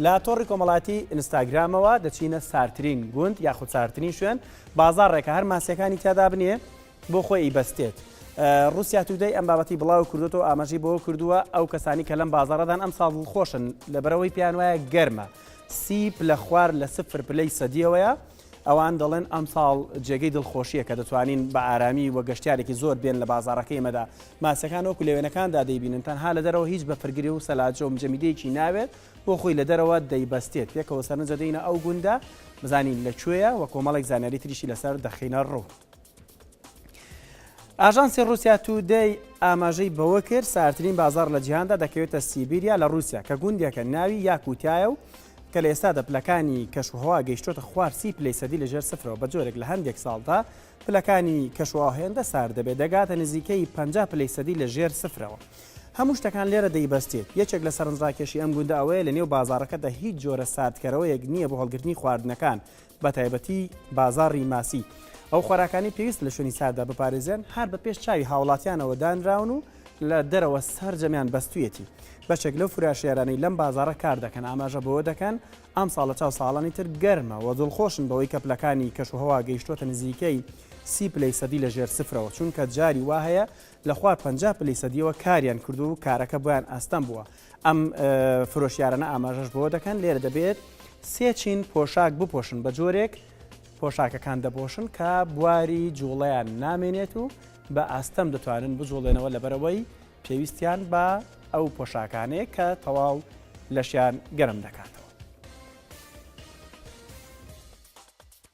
لە تۆڕی کۆمەڵاتی ئینستاگرامەوە دەچینە ساردترین گوند یاخود ساردترین شوێن بازاڕێکە هەر ماسیەکانی تیادا بنێ بۆ خۆی ئیبەستێت. روسیا تودەی ئەم بابەتی بڵاو کردوەوە ئاماژەی بەوە کردووە ئەو کەسانی کە لەم بازارەدان ئەم ساڵ دڵخۆشن لەبەرەوەی پێیان وایە گەرمە سی پلە خوار لە سفر پلەی سەدیەوەیە ئەوان دەڵێن ئەمساڵ جێگەی دڵخۆشییە کە دەتوانین بە ئارامی و گەشتارێکی زۆر بێن لە بازارەکەی مەدا ماسیەکان وەکو لەوێنەکاندا دەیبینن تەنها لە دەرەوە هیچ بە پرگری و سەلاجە و مجەمیدەیەکی ناوێت بۆ خۆی لە دەرەوە دەیبەستێت پێکەوە سەرنجە دەینە ئەو گوندە بزانین لە کوێە وە کۆمەڵێک زانیاری تریشی لەسەر دەخینە ڕوو. ئاژانسی ڕوسیا تودەی ئاماژەی بەوە کرد سارترین بازار لە جیهاندا دەکەوێتە سیبیریا لە رووسیا کە گوندێکە ناوی یاکوتایە و کە لە ئێستا دە پلەکانی کەشوهوا گەیشتۆتە خوارسی پلی سەدی لە ژێر سفرەوە بە جۆرێک لە هەندێک ساڵدا پلەکانی کەشووا هێندە سار دەبێت دەگاتە نزیکەی پ پلی سەدی لە ژێر سفرەوە. هەموو شتەکان لێرە دەیبەستێت یەکێک لە سەرنجڕاکێشی ئەم گوندە ئەوەیە لە نێو بازارەکەدا هیچ جۆرە ساردکەرەوەیەک نییە بۆ هەڵگرتنی خواردنەکان بە تایبەتی بازاڕی ماسی، ئەو خۆراکانەی پێویستە لە شوێنی سارددا بپارێزرێن، هەر بە پێش چاوی هاوڵاتیانەوە دانراون و لە دەرەوە سەرجەمیان بەستوویەتی. بەشێک لەو فراشیارانەی لەم بازاڕە کار دەکەن، ئاماژە بەوە دەکەن، ئەمساڵ لە چاو ساڵانی تر گەرمە و دڵخۆشن بەوەی کە پلەکانی کەشوهەوا گەیشتووەتە نزیکەی سی پلەی سەدی لە ژێر سفرەوە، چونکە جاری وا هەیە لە خوار پەنجا پلەی سەدییەوە کاریان کردووە و کارەکە بۆیان ئاستەم بووە. ئەم فرۆشیارانە ئاماژەش بۆ دەکەن لێرە دەبێت سێ چین پۆشاک بپۆشن بە جۆرێک پۆشاکەکان دەبۆشن کە بواری جوڵیان نامێنێت و بە ئاستەم دەتوانن بجوڵێنەوە لەبەرەوەی پێویستیان بە ئەو پۆشاکانەیە کە تەواو لەشیان گەرم دەکاتەوە.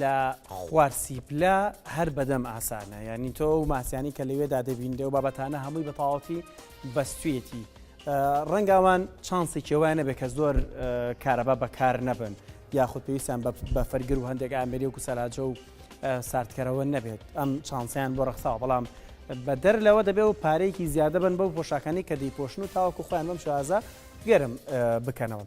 لە خوار سیپلە هەر بەدەم ئاسانە یعنی تۆ و ماسیانی کە لەوێدا دەبینرێ و بابەتانە هەمووی بە تەواوەتی بەستوێتی ڕەنگاوان چانسی کێوایە نەبێت کە زۆر کارەبا بەکار نەبن یاخود پێویستیان بە فەرگر و هەندێک ئامری و کوسەلاجە و ساردکەرەوە نەبێت ئەم چانسیان بۆ ڕخساوە بەڵام بە دەر لەوە دەبێت و پارێکی زیادە بن بەو پۆشاکانی کە دەیپۆشن و تاوەکو خۆیان بەم شازە گەرم بکەنەوە.